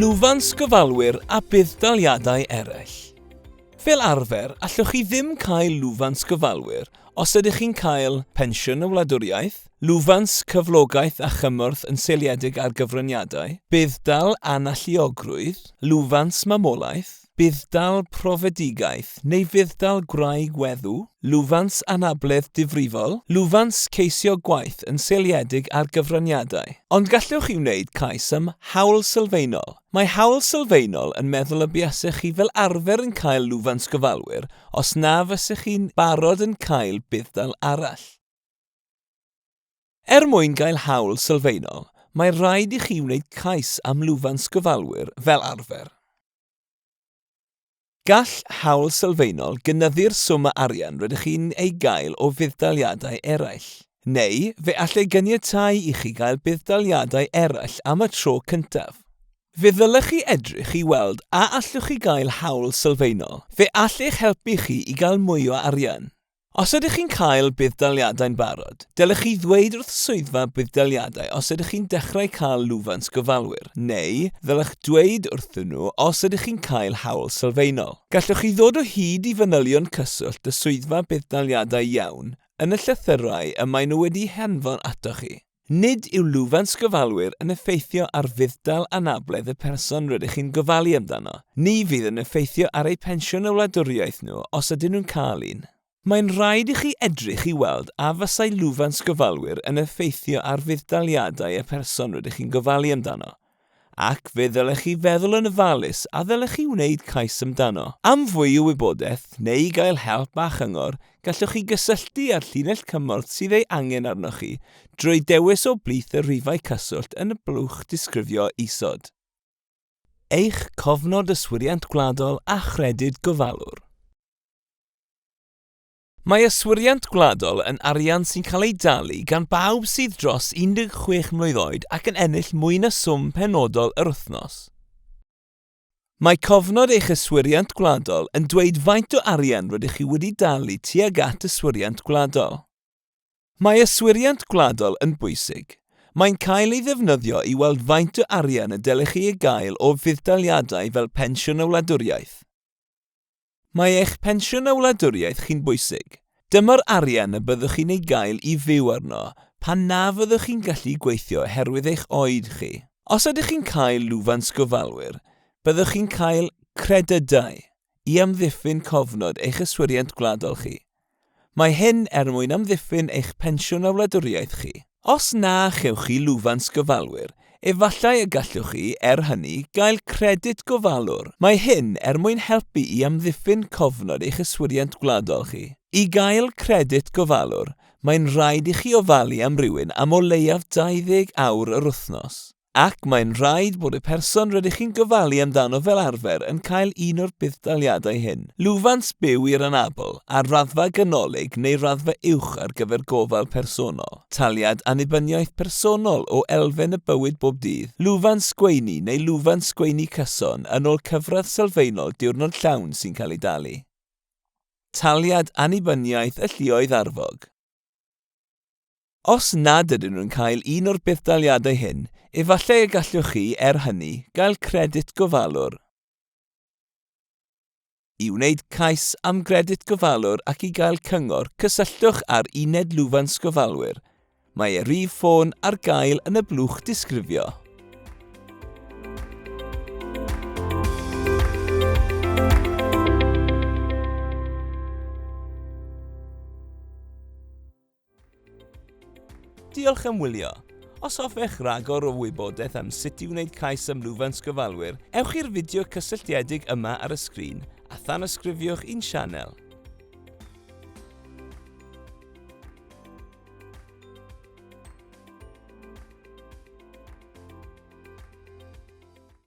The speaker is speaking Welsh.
Lwfans gyfalwyr a budd-daliadau eraill. Fel arfer, allwch chi ddim cael lwfans gyfalwyr Os ydych chi'n cael Pensiwn y Wladwriaeth, lwfans cyflogaeth a chymorth yn seiliedig ar gyfraniadau, budd-dal analluogrwydd, lwfans mamolaeth, budd-dal profedigaeth neu fudd-dal gwraig weddw, lwfans anabledd difrifol, lwfans ceisio gwaith yn seiliedig ar gyfraniadau. Ond gallwch chi wneud cais am Hawl Sylfaenol Mae hawl sylfaenol yn meddwl y buasech chi fel arfer yn cael lwfans gofalwyr os na fysech chi'n barod yn cael budd-dal arall. Er mwyn cael hawl sylfaenol, mae'n rhaid i chi wneud cais am lwfans gofalwyr fel arfer. Gall hawl sylfaenol gynyddu'r swm o arian rydych chi'n ei gael o fudd-daliadau eraill, neu fe all ei ganiatáu i chi gael budd-daliadau eraill am y tro cyntaf. Fe ddylech chi edrych i weld a allwch chi gael hawl sylfaenol. Fe all eich helpu chi i gael mwy o arian. Os ydych chi'n cael budd-daliadau'n barod, dylech chi ddweud wrth Swyddfa Budd-daliadau os ydych chi'n dechrau cael lwfans gofalwyr, neu ddylech ddweud wrthyn nhw os ydych chi'n cael hawl sylfaenol. Gallwch chi ddod o hyd i fanylion cyswllt y Swyddfa Budd-daliadau Iawn yn y llythyrau y maen nhw wedi'u hanfon atoch chi. Nid yw lwfans gyfalwyr yn effeithio ar fudd-dal anabledd y person rydych chi'n gofalu amdano. Ni fydd yn effeithio ar eu pensiwn a wladwriaeth nhw os ydyn nhw'n cael un. Mae'n rhaid i chi edrych i weld a fasai lwfans gyfalwyr yn effeithio ar fudd-daliadau y person rydych chi'n gofalu amdano. ac fe ddylech chi feddwl yn ofalus a ddylech chi wneud cais amdano. Am fwy o wybodaeth neu i gael help a chyngor, gallwch chi gysylltu â'r llinell cymorth sydd ei angen arnoch chi drwy dewis o blith y rhifau cyswllt yn y blwch disgrifio isod. Eich Cofnod Yswiriant Gwladol a Chredyd Gofalwr. Mae yswiriant gwladol yn arian sy'n cael ei dalu gan bawb sydd dros 16 mlwydd oed ac yn ennill mwy na swm penodol yr wythnos. Mae cofnod eich yswiriant gwladol yn dweud faint o arian rydych chi wedi dalu tuag at yswiriant gwladol. Mae yswiriant gwladol yn bwysig. Mae'n cael ei ddefnyddio i weld faint o arian y dylech chi ei gael o fudd-daliadau fel Pensiwn y Wladwriaeth. Mae eich pensiwn a wladwriaeth chi'n bwysig. Dyma'r arian y byddwch chi'n ei gael i fyw arno pan na fyddwch chi'n gallu gweithio oherwydd eich oed chi. Os ydych chi'n cael lwfans gofalwyr, byddwch chi'n cael credydau i amddiffyn cofnod eich yswiriant gwladol chi. Mae hyn er mwyn amddiffyn eich pensiwn a wladwriaeth chi. Os na chewch chi lwfans gofalwyr, efallai y gallwch chi, er hynny, gael credyd gofalwr. Mae hyn er mwyn helpu i amddiffyn cofnod eich yswiriant gwladol chi. I gael credyd gofalwr, mae'n rhaid i chi ofalu am rywun am o leiaf 20 awr yr wythnos. ac mae'n rhaid bod y person rydych chi'n gofalu amdano fel arfer yn cael un o'r budd-daliadau hyn. Lwfans byw i'r anabl, ar raddfa ganolig neu raddfa uwch ar gyfer gofal personol, taliad annibyniaeth personol o elfen y bywyd bob dydd, lwfans gweini neu lwfans gweini cyson yn ôl cyfradd sylfaenol diwrnod llawn sy'n cael ei dalu, taliad annibyniaeth y lluoedd arfog. Os nad ydyn nhw'n cael un o'r budd-daliadau hyn, efallai y gallwch chi, er hynny, gael Credyd Gofalwr. I wneud cais am Gredyd Gofalwr ac i gael cyngor, cysylltwch â'r Uned Lwfans Gofalwyr. Mae ei rif ffôn ar gael yn y blwch disgrifio. Diolch am wylio. Os hoffech ragor o wybodaeth am sut i wneud cais am lwfans gyfalwyr, ewch i'r fideo cysylltiedig yma ar y sgrin a thanysgrifiwch i'n sianel.